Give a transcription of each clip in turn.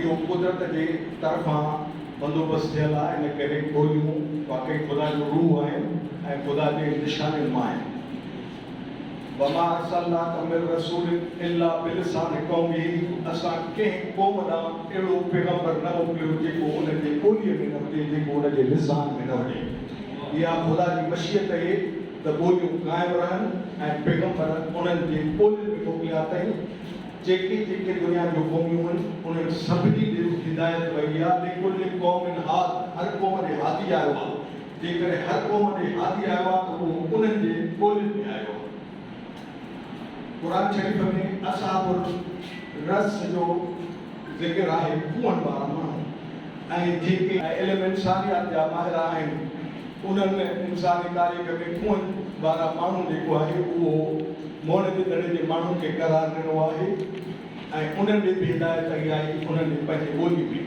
اهو قدرت جي طرفان بندوبست ٿيل آهي، ان ڪري ڪوئليون واقعي خدا جو روح آهن ۽ خدا جي نشانين مان آهن. وما ارسلناک من رسول الا بلسان قومه اسان ڪنهن قوم ڏانهن اهڙو پيغمبر نه موڪليو جيڪو ان جي ٻوليء ۾ نه هجي، جيڪو ان جي لسان ۾ نه هجي. اها خدا جي مشيت هئي ته ٻوليون قائم رهن ۽ پيغمبر انهن جي ٻولين ۾ موڪليا اٿئي. جيڪي جيڪي دنيا جون قوميون هن، انهن سڀني ڏي به هدايت وئي آ، لڪل قوم هاد، هر قوم ڏي هادي آيو آ، جيڪڏهن هر قوم ڏي هادي آيو آ ته اهو انهن جي ٻولين ۾ آيو آ. قرآن شريف ۾ اصحاب الرس جو ذڪر آهي، کوهن وارا ماڻهو. ۽ جي پي ۽ علم انسانيات جا ماهر آهن انهن ۾ انساني تاريخ ۾ کوهن وارا ماڻهو جيڪو آهي اهو موئن جي دڙي جي ماڻهن کي قرار ڏنو آهي ۽ انهن ڏي به هدايت اهي آهي ته انهن جي پنهنجي ٻولي ۾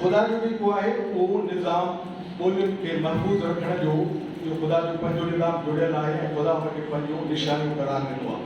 خدا جو جيڪو آهي اهو نظام ٻولين کي محفوظ رکڻ جو اهو خدا جو پنهنجو نظام جڙيل آهي ۽ خدا ان کي پنهنجو نشانيون قرار ڏنو آهي.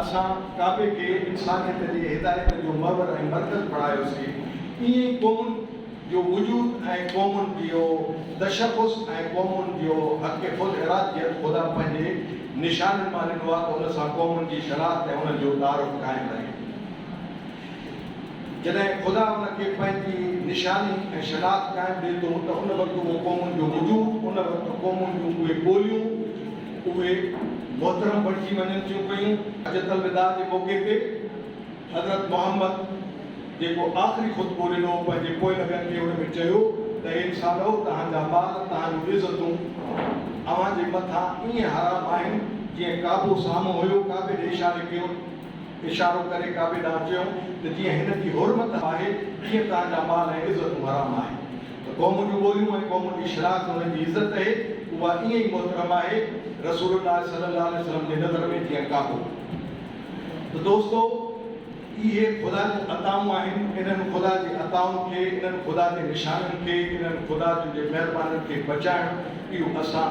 اسان ڪعبي کي انسانيت جي هدايتن جو محور ۽ مرڪز بڻايوسين. ائين ئي قومن جو وجود ۽ قومن جو تشخص ۽ قومن جو حق خود اراديت خدا پنهنجي نشانن مان ڏنو آهي ته ان سان قومن جي شناخت ۽ انهن جو تعارف قائم رهي. جڏهن خدا ان کي پنهنجي نشاني ۽ شناخت قائم ڏئي ٿو ته ان وقت اهو قومن جو وجود، ان وقت قومن جون اهي ٻوليون، اهي محترم بڻجي وڃن ٿيون پيون. حجة الوداع جي موقعي تي حضرت محمد جيڪو آخري خطبو ڏنو، پنهنجي پوئلڳن کي ان ۾ چيو ته اي انسانؤ! توهان جا مال، توهان جون عزتون اوهان جي مٿان ائين حرام آهن جيئن ڪعبو سامهون هيو، ڪعبي ڏي اشاري ڪيو، اشارو ڪري ڪعبي ڏانهن چيو ته جيئن هن جي حرمت آهي تيئن توهان جا مال ۽ عزتون حرام آهن ته قومن جون ٻوليون ۽ قومن جي شناخت انهن جي عزت اهي اها ائين ئي محترم آهي رسول الله صلي الله عليه وسلم جي نظر ۾ جيئن ڪعبو ته دوستو اهي خدا جون عطائون آهن انهن خدا جي عطائن کي انهن خدا جي نشانين کي انهن خدا جن جي مهربانين کي بچائڻ اهو اسان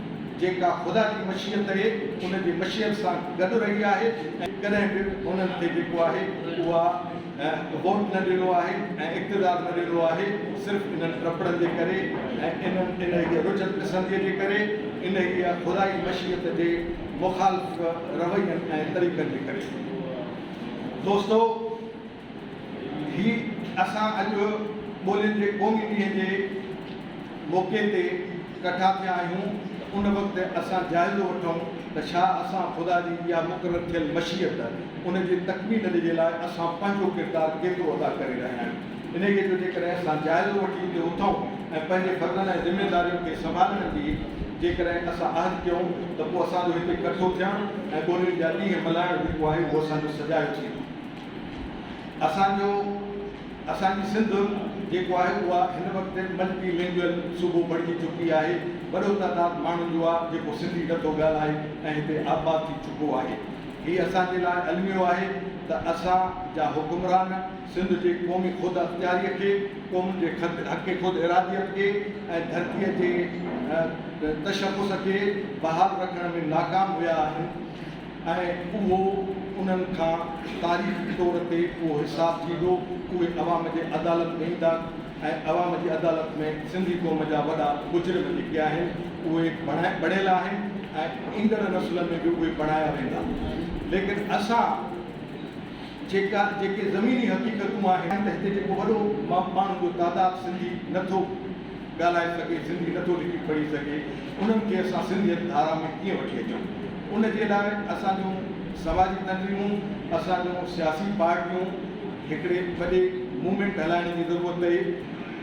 جيڪا خدا جي مشيئت هي، ان جي مشيئت سان گڏ رهي آهي ۽ ڪڏهن به هنن کي جيڪو آهي اها ووٽ نه ڏنو آهي ۽ اقتدار نه ڏنو آهي، صرف انهن ٽپڙن جي ڪري ۽ انهن انهيء رجعت پسنديء جي ڪري، انهيء خدائي مشيئت جي مخالف روين ۽ طريقن جي ڪري. دوستو! هي اسان اڄ ٻولين جي قومي ڏينهن جي موقعي تي ڪٺا ٿيا آهيون ته ان وقت اسان جائزو وٺون ته ڇا اسان خدا جي اها مقرر ٿيل مشيئت ان جي تڪميل جي لاء اسان پنهنجو ڪردار ڪيترو ادا ڪري رهيا آهيون انهيء جو جيڪڏهن اسان جائزو وٺي اتي اٿون ۽ پنهنجي فرضن ۽ ذميدارين کي سنڀالڻ جي جيڪڏهن اسان عهد ڪيون ته پوء اسان جو هتي ڪٺو ٿيڻ ۽ ٻولين جا ڏينهن ملهائڻ جيڪو آهي اهو اسان جو سجايو ٿيندو. اسان جو اسان جي سنڌ جيڪو آهي اها هن وقت ملٽي لينگوئل صوبو بڻجي چڪي آهي وڏو تعداد ماڻهن جو آهي جيڪو سنڌي نه ٿو ڳالهائي ۽ هتي آباد ٿي چڪو آهي هي اسان جي لاء الميو آهي ته اسان جا حڪمران سنڌ جي قومي خود اختياري کي قومن جي حق خود اراديت کي ۽ ڌرتي جي تشخص کي بحال رکڻ ۾ ناڪام هيا آهن ۽ اهو انهن کان تاريخي طور تي اهو حساب ٿيندو، اهي عوام جي عدالت ۾ ايندا ۽ عوام جي عدالت ۾ سنڌي قوم جا وڏا مجرم جيڪي آهن اهي بڻيل آهن ۽ ايندڙ نسل ۾ به اهي بڻايا ويندا ليڪن اسان جيڪا جيڪي زميني حقيقتون آهن ته هتي جيڪو وڏو ماڻهن جو تعداد سنڌي نه ٿو ڳالهائي سگهي، سنڌي نٿو لکي پڙهي سگهي، انهن کي اسان سنڌيت ڌارا ۾ ڪيئن وٺي اچون؟ ان جي لاء اسان جون سماجي تنظيمون، اسان جون سياسي پارٽيون هڪڙي وڏي موومينٽ هلائڻ جي ضرورت اهي.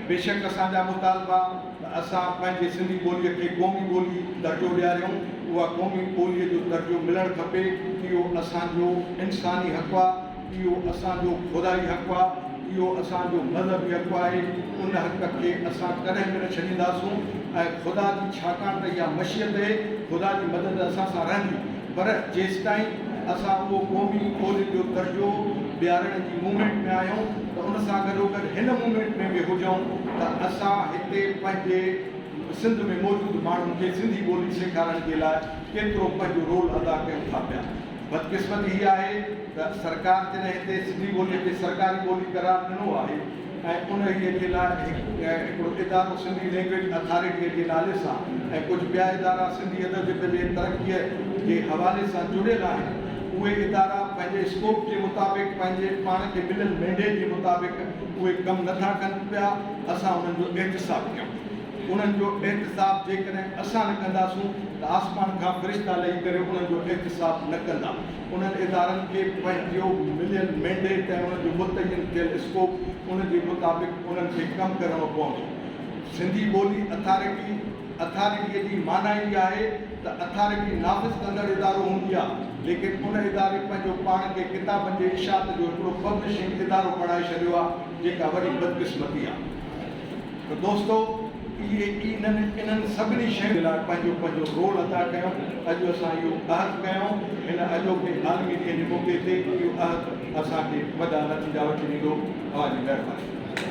بيشڪ اسان جا مطالبا ته اسان پنهنجي سنڌي ٻوليء کي قومي ٻولي درجو ڏياريون، اها قومي ٻوليء جو درجو ملڻ کپي، اهو اسان جو انساني حق آ، اهو اسان جو خدائي حق آ، اهو اسان جو مذهبي حق آهي، ان حق کي اسان ڪڏهن به نه ڇڏينداسون ۽ خدا جي ڇاڪاڻ ته اها مشيت اهي، خدا جي مدد اسان سان رهندي پر جيستائين اسان اهو قومي ٻولين جو درجو ڏيارڻ جي مومينٽ ۾ آهيون ته ان سان گڏوگڏ هن مومينٽ ۾ به هجون ته اسان هتي پنهنجي سنڌ ۾ موجود ماڻهن کي سنڌي ٻولي سيکارڻ جي لاء ڪيترو پنهنجو رول ادا ڪيون ٿا پيا، بدقسمتي هي آهي. ته سرڪار جڏهن هتي سنڌي ٻوليء کي سرڪاري ٻولي قرار ڏنو آهي ۽ انهيء جي لاء هڪڙو ادارو سنڌي لئنگويج اٿارٽيء جي نالي سان ۽ ڪجهه ٻيا ادارا سنڌي ادب جي پنهنجي ترقيء جي حوالي سان جڙيل آهن، اهي ادارا پنهنجي اسڪوپ جي مطابق پنهنجي پاڻ کي مليل مينڊيٽ جي مطابق اهي ڪم نه ٿا ڪن پيا، اسان انهن جو احتساب ڪيون. انهن جو احتساب جيڪڏهن اسان نه ڪنداسون ته آسمان کان فرشتا لهي ڪري انهن جو احتساب نه ڪندا. انهن ادارن کي پنهنجو مليل مينڊيٽ ۽ انهن جو متعين ٿيل اسڪوپ ان جي مطابق انهن کي ڪم ڪرڻو پوندو. سنڌي ٻولي اٿارٽي، اٿارٽيء جي معنيٰ ئي آهي ته اٿارٽي نافذ ڪندڙ ادارو هوندي آهي، ليڪن ان اداري پنهنجو پاڻ کي ڪتابن جي اشاعت جو هڪڙو پبلشنگ ادارو بڻائي ڇڏيو آهي، جيڪا وڏي بدقسمتي آهي. ته دوستو اهي ئي انهن انهن سڀني شين لاء پنهنجو پنهنجو رول ادا ڪيو. اڄ اسان اهو عهد ڪيو. هن اڄوڪي عالمي ڏينهن جي موقعي تي اهو عهد اسان کي وڏا نتيجا وٺي ڏيندو. اوهان جي مهرباني.